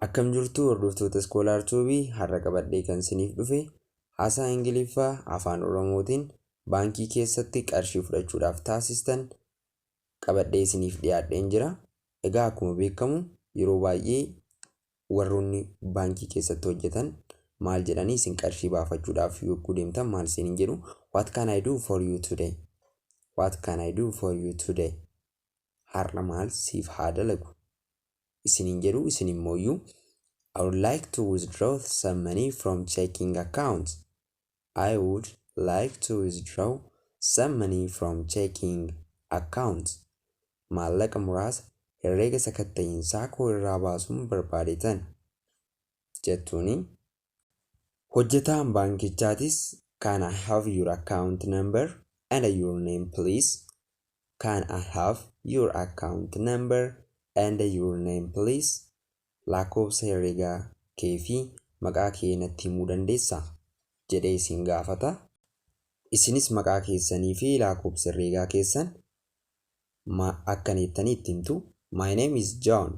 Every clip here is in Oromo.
Akkam jirtu hordoftoota Scholar Tube har'a qabadhee kan isiniif dhufe haasaa Ingiliffaa afaan Oromootiin baankii keessatti qarshii fudhachuudhaaf taasistan qabadhee isiniif dhiyaadheen jira. Egaa akkuma beekamu yeroo baay'ee warroonni baankii keessatti hojjetan maal jedhanii isin qarshii baafachuudhaaf yogguu deemtan maal isin hin jedhu what can I do for you today what can I do for you today har'a maal siif haa dalagu isiniin jedhu isin immooyyuu I would like to withdraw some money from checking account I would like to withdraw some money from checking account maallaqa muraasa herreega sakatta'iinsaa koo irraa baasuun barbaadetan jettuuni. Hojjetaan baankichaatis Can I have your account number and your name please? Can I have your account number and your name please? Lakkoofsa herregaa kee fi maqaa kee natti himuu dandeessaa? jedhee isin gaafata. Isinis maqaa keessanii fi lakkoofsa herreegaa keessan ma akka neettanii itti himtu. My name is John.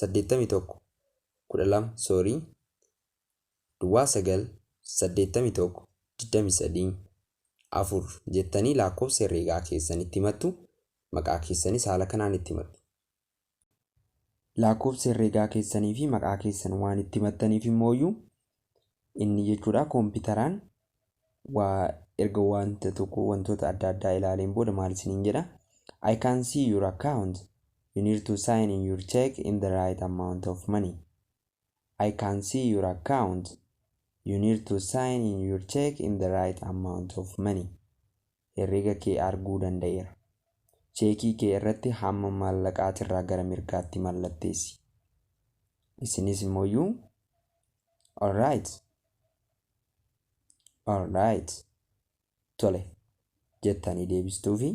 saddeettamii tokko kudha lama sorry duwwaa sagal saddeettamii tokko digdamii sadii afur jettanii lakkoofsa herreegaa keessan itti himattu maqaa keessanis haala kanaan itti himattu. Lakkoofsa herreegaa keessanii fi maqaa keessan waan itti himattaniif immooyyuu Inni jechuudha kompiitaraan waa erga wanta tokko wantoota adda addaa ilaaleen booda maal isiniin jedha I can see your account you need to sign in your check in the right amount of money I can see your account you need to sign in your check in the right amount of money herreega kee arguu danda'eera. Cheekii kee irratti hamma maallaqaatirraa gara mirgaatti mallatteessi. Isinis immooyyuu Alright. Alright. Tole. jettanii deebistuufi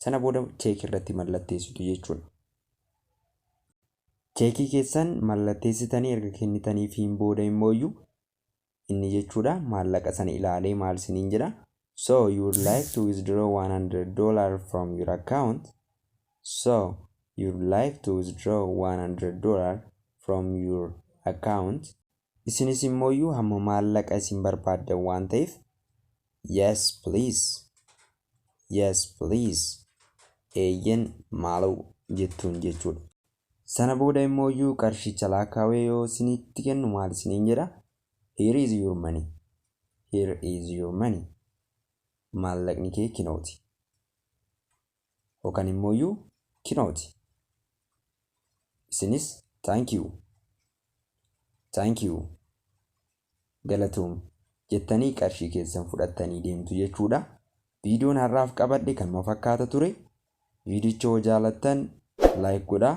sana booda cheekii irratti mallatteessitu jechuudha. Cheekii keessan mallatteessitanii erga kennitaniifiin booda immooyyuu inni jechuudha maallaqa sana ilaalee maal siniin jedha so you would like to withdraw 100 dollar from your account so you would like to withdraw 100 dollar from your account isinis immooyyuu hamma maallaqa isin barbaaddan waan ta'eef yes please yes please eeyyen maaloo jettuun jechuudha Sana booda immooyyuu qarshicha laakkaawee yoo isinitti kennu maal isiniin jedha? Here is your money. Here is your money. Maallaqni kee kinooti. Yookaan immooyyuu kinooti. Isinis thank you. Thank you. Galatoomi. Jettanii qarshii keessan fudhattanii deemtu jechuudha. Viidiyoon har'aaf qabadhe kanuma fakkaata ture. Viidiyicha yoo jaalattan like godhaa.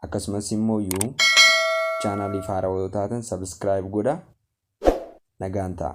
Akkasumas immoo yoo chaanaaliif haarawaa yoo taatan subscribe godhaa. Nagaan ta'a.